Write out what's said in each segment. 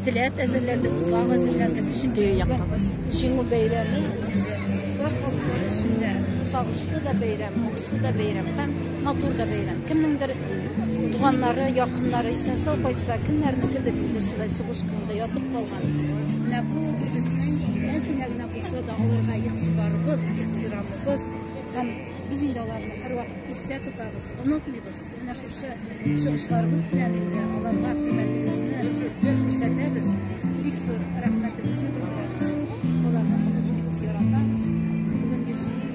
Теләп әзерләндек, узган әзерләндек, чөнки якабыз. Шиңу бәйрәме бар халыклар эчендә сагышлы да бәйрәм, моңсу да бәйрәм һәм матур да бәйрәм. Кемнеңдер туганнары, якыннары исән сау кайтса, кемнәрнеке дә инде шулай сугышканда ятып калган. Менә бу безнең әзенә генә Булса да аларга игътибарыбыз, ихтирамыбыз һәм без инде аларны һәрвакыт истә тотабыз, онытмыйбыз. Менә шушы чыгышларыбыз белән инде аларга хөрмәтебезне күрсәтәбез. Бик зур рәхмәтебезне белдерәбез. Аларны онытмыйбыз, яратабыз. Бүгенге җиңү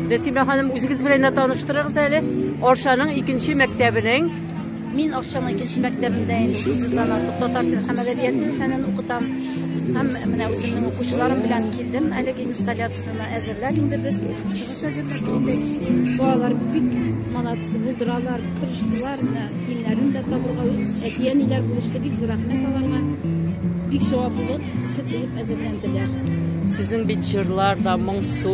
Нәсимә ханым, үзегез белән дә таныштырыгыз әле. Арчаның икенче мәктәбенең Мин Арчаның икенче мәктәбендә инде сигездан артык татар теле һәм әдәбияты фәнен укытам. Һәм менә үземнең укучыларым белән килдем әлеге инсталляцияне әзерләп инде без. Балалар бик молодцы булдыралар, тырыштылар, киемнәрен дә табырга, әти-әниләр булышты, бик зур рәхмәт аларга. Бик җаваплылык хисе булып әзерләнделәр. Сезнең бит җырлар да моңсу,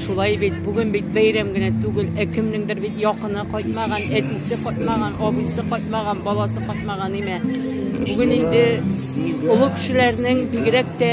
шулай бит. Бүген бит бәйрәм генә түгел, ә кемнеңдер бит якыны кайтмаган, әтисе кайтмаган, абыйсы кайтмаган, баласы кайтмаган име. Бүген инде олы кешеләрнең бигрәк тә